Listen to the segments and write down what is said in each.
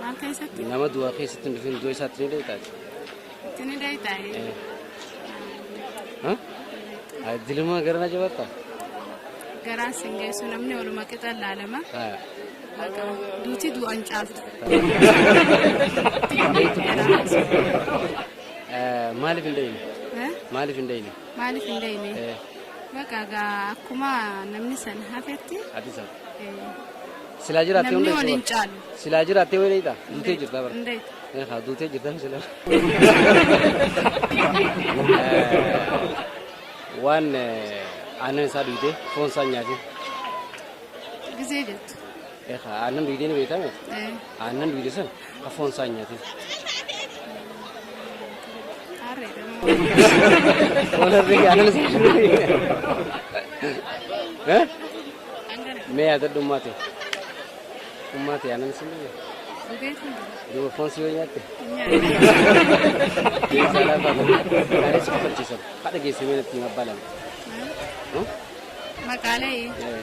Maal keessatti? Nama du'a keessatti hin dhufin du'a isaatti ni deetaati. Itti ni deetaa'e. Dilima gara na jabatta? Garaan sin geessu namni oluma qixa laalama. Duuti du'an caaltu. Maaliif hin deeyne? Maaliif hin deeyne? Maaliif hin deeyne? Baqa akkuma namni san hafetti. Ati sana. Silaa jiraattee Namni hunda wal hin caalu. Silaa jiraattee wayii dheeyta. Duutee jirtaa bara. Hundee. Haa duutee jirtan sila. Waan eh, aannan isaa duutee foon isaa hin nyaatin. Gisee jettu. Eegaa aannan duutee ni beekame. Eh. Aannan duute sana Ka foon isaa hin nyaatin. Walirri aanan isaa hin Eh? Mee yaadadhu ummaate. Ummaate aanan isaa hin Duuba foon si yoo nyaatte. Keessaa laafaa ta'e. Gaalee si kafachiisan. Haadha geessamee natti hin abbaalame. Maqaalee. Eh.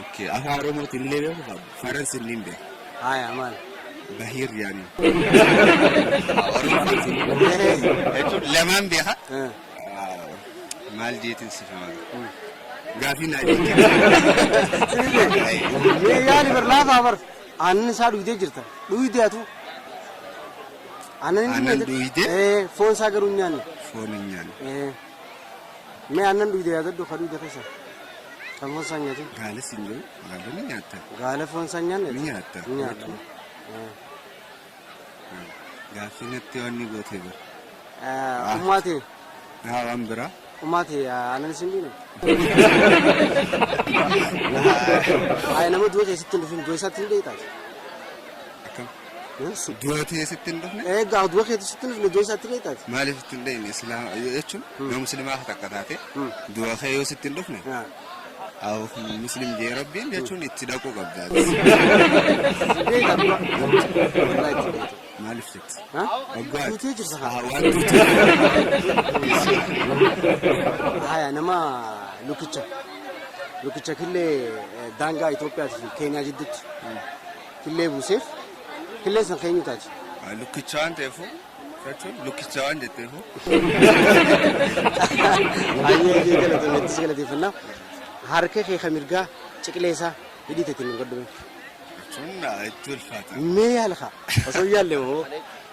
Okay, afaan Oromootiin illee beeku qaba. Faransi illee hin beeku. Haya maal? Bahiir yaani. Jechuun lamaan beeka. Eh, Maal jeetiin si faana? Gaafii naa jeetiin. Mee yaali bar laafaa bar. Aannan isaa dhuydee jirta. Dhuydee atu. Aannan hin Aannan dhugnee- dhuydee? Eh, foon isaa garuu hin nyaanne. Foon hin nyaanne. Eh. Mee aannan dhuyde yaadadhu ka dhuyde keessa kan foon isaa hin nyaatin. Gaala siin jedhu gaala ni nyaatta. Gaala foon isaa hin nyaanne Ni nyaatta. ni nyaata. Eh. Gaaffii natti waan ni gootee bira. Eh, Ummaati Naa waan biraa. ummaati aannan isin dhuyne. Ay nama du'a keessatti hin dhufin du'a isaatti ni dheeytaati. Akkam? Dura tiyee sitti hin dhufne? Ee gaaf dura keetu sitti hin dhufne iddoo isaatti kee taate. Maaliif sitti hin dhufne? Islaama jechuun yoo muslimaa takka taate dura kee yoo sitti hin dhufne? Awuf muslim jee rabbiin jechuun itti dhaquu qabda. Maaliif jetti? Waggaa. Duutee jirsa haa. Waan duutee. Haya nama lukicha. Lukicha killee daangaa Itoophiyaa fi Keeniyaa jidduutti. killee buuseef, killeen san ka eenyuu taati? Lukkicha waan ta'eefuu jechuun lukkicha waan jetteefuu. Hayyee kee galatoomi itti si galateeffannaa. Harka kee ka mirgaa ciqilee isaa hidhii teetiin hin godhume. Jechuun itti ulfaata. Mee yaala kaa osoo hin yaalle hoo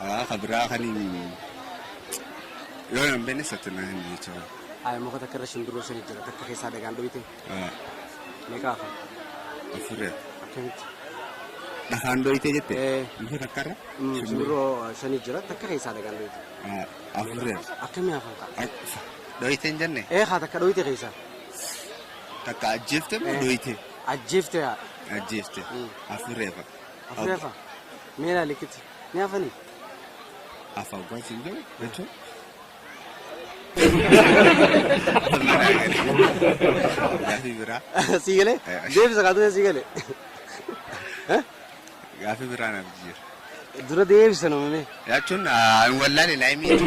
Haa ka biraa kanin yoo nan beekne satti na hin jechuun. Haa muka takka irra shimbirroo shan jira takka keessaa dhagaan dhoyte. Haa Meeqa hafa? afurre Akkamitti? dhakaan dhoyte jette Ee. muka takka irra Mm, Shimbirroo shan jira takka keessaa dhagaan dhoyte. Haa afurre Akkamii hafa ta'a? dhoyte hin jenne Ee haa takka dhoyte keessaa. takka ajjeefte moo Ee. dhoyte Ajjeefte haa. ajjeefte Mm. afurreefa. Afurreefa. Meelaa likitti. Ni hafanii? Afa oggaa siin jedhu jechuun. Gaafii biraa. Sii galee? Deebisa kaatee sii galee. Gaafii biraa naaf jijjiira. Dura deebisa namni. Jechuun wallaale laayimii.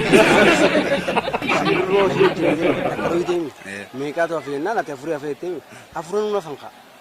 Meeqaatu hafe jennaan ati afurii hafe jettee afuran nuna fankaa.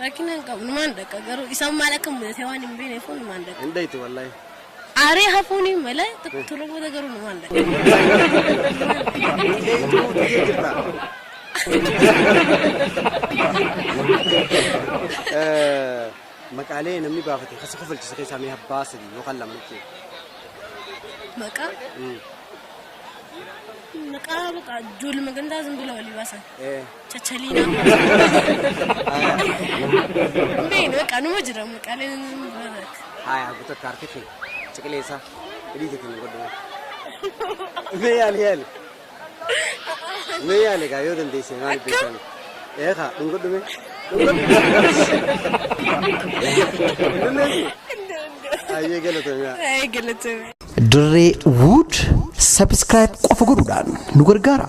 Rakkina hin qabu numaan dhaqa garuu isaan maal akka mudatee waan hin beekneef numaan dhaqa. Hin dhayti wallahi. Aaree hafuun hin mala turre booda garuu numaan dhaqa. Maqaalee namni baafate kasa kofalchisa keessaa mee abbaa sadii yookaan lama nutti. Maqaa maqaa maqaa ijoollee magandaa zimbilaa walii baasan. Chachalina. Beenu beekaa numa jira maqaaleen bara. Haya haguta kaarte kee ciqilee isaa hidhiite kan godhu. Mee yaali yaali. Mee yaali gaa yoo dandeesse maal beekan. Eeka dhungadhu mee. Ayyee galatoomaa. Ee galatoomi. Dirree Wood subscribe qofa godhuudhaan nu gargaara.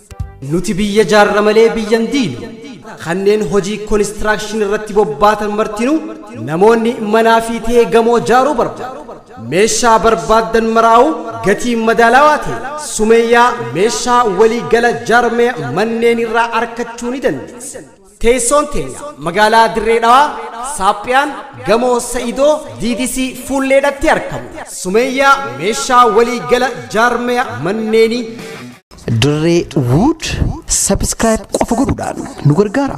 Nuti biyya jaarra malee biyya hin diignu. Kanneen hojii konistiraakshinii irratti bobbaatan martinuu namoonni manaa fi ta'ee gamoo jaaruu barbaadu. Meeshaa barbaaddan maraa'u gatii madaalawaa ta'e Sumeeyyaa meeshaa walii gala jaarmaya manneen irraa arkachuu ni dandeessan. Teessoon teenya magaalaa Dirree Dhawaa, Saaphiyaan, Gamoo Sa'idoo, DDC, Fuulleedhatti arkamu. Sumeeyyaa Meeshaa Walii Gala Jaarmaya Manneenii. Dirree Wood subscribe qofa godhuudhaan nu gargaara.